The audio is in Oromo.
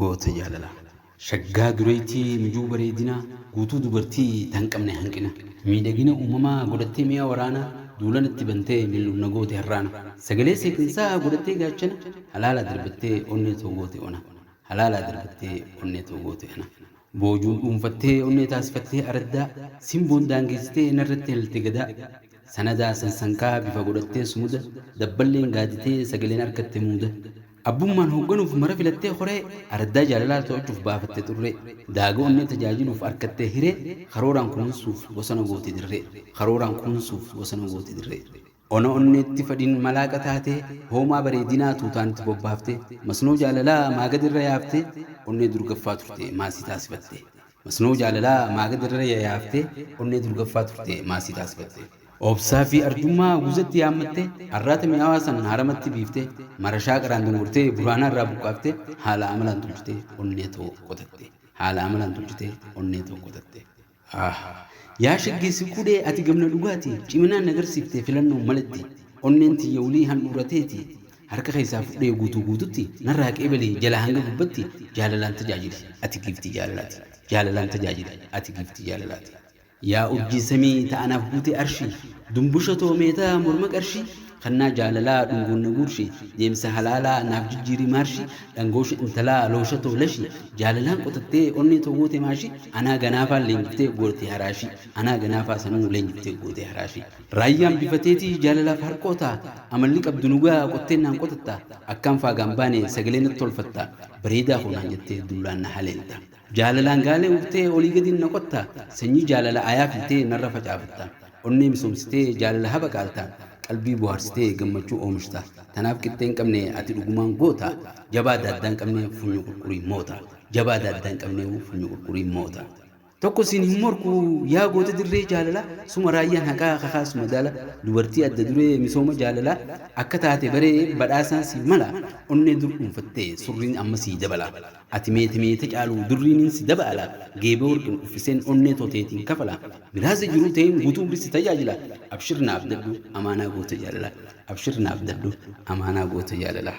Goota jaalala shaggaa dureeytii mijuu bareedinaa Guutuu dubartii tan qabne hanqina Miidhagina uumamaa godhattee mi'a waraanaa Duula natti bantee mil'uuf na goote har'aana Sagalee seeqinsaa godhattee gaachana Halaalaa darbattee onnee too goote ona Halaalaa darbattee onnee too goote ana Boojuun dhuunfattee onnee taasifattee araddaa Simboon daangeessitee narratti halalte gadaa Sanadaa sansankaa bifa godhattee sumuda Dabballeen gaaditee sagaleen arkatte muuda Abbummaan hoogganuuf mara filattee koree araddaa jaalalaa to'achuuf baafatte xurree. Daaga onnee tajaajiluuf arkattee hiree karooraan kunuunsuuf bosona goote dirree. Karooraan kunuunsuuf bosona goote dirree. Ona onneetti fadhiin malaaqa taatee hoomaa bareedinaa tuutaan itti bobbaaftee masnoo jaalalaa maagadi irra yaaftee onnee durgaffaa turte maasii taasifattee. Masnoo jaalalaa maa gad irra yayaaftee onnee durgaffaa turtee maa sii taasifattee. Obsaa fi arjummaa guzatti yaammattee arraata mi'aawaa san haaramatti biiftee marashaa qaraan dungurtee buraanaa irraa buqqaaftee haala amalaan tolchitee onnee too qotattee haala amalaan tolchitee onnee too qotattee. Aah yaa shaggeessi kudhee ati gamna dhugaati ciminaan na garsiiftee filannoon maletti onneen tiyya wly handhuura teeti Harka keessaa fudhee guutuu guututti narraa qeebali jalaa hanga gubbatti jaalalaan tajaajili ati giiftii jaalalaati jaalalaan tajaajili ati giiftii jaalalaati Yaa urjii samii ta anaaf guutee arshii Dumbusha too meeta morma qarshii Kannaa jaalalaa dhungoon na guurshi Deemsa halaalaa naaf jijjiiri maarshi Dhangoosha intalaa loosha too lashi Jaalalaan qotattee onnee too goote maashi Anaa ganaafaa leenjiftee gootee haraashii Anaa ganaafaa sanuu leenjiftee gootee haraashii Raayyaan bifa teeti jaalalaaf harqoota Amalli qabdu nu ga'a qotteen naan qotatta Akkaan faagaan baane sagalee natti tolfatta Bareedaa koo naan jettee dullaan na haleelta Jaalalaan gaalee urtee olii gadiin na qotta Sanyii jaalala ayaa filtee narra facaafatta Onnee misoomsitee jaalala habaqaalta Qalbii bohaarsitee gammachuu oomishta Tanaaf qixxee hin qabne ati dhugumaan goota Jabaa daaddaa hin qabne funyoo qurqurii moota Jabaa daaddaa hin qabne funyoo qurqurii moota. Tokko siin hin morku yaa goota dirree jaalalaa suma raayyaan haqaa kakaas madaala dubartii adda duree misooma jaalalaa akka taate baree badhaasaan siif mala onnee dur dhuunfattee surriin amma sii dabalaa ati meete meete caaluu durriinin si dabaala geebee warqin uffiseen onnee too teetiin kafala miraaza jiruu tee guutuu umrii si tajaajila abshir na abdadhu amaanaa goota jaalalaa abshir na abdadhu amaanaa goota jaalalaa.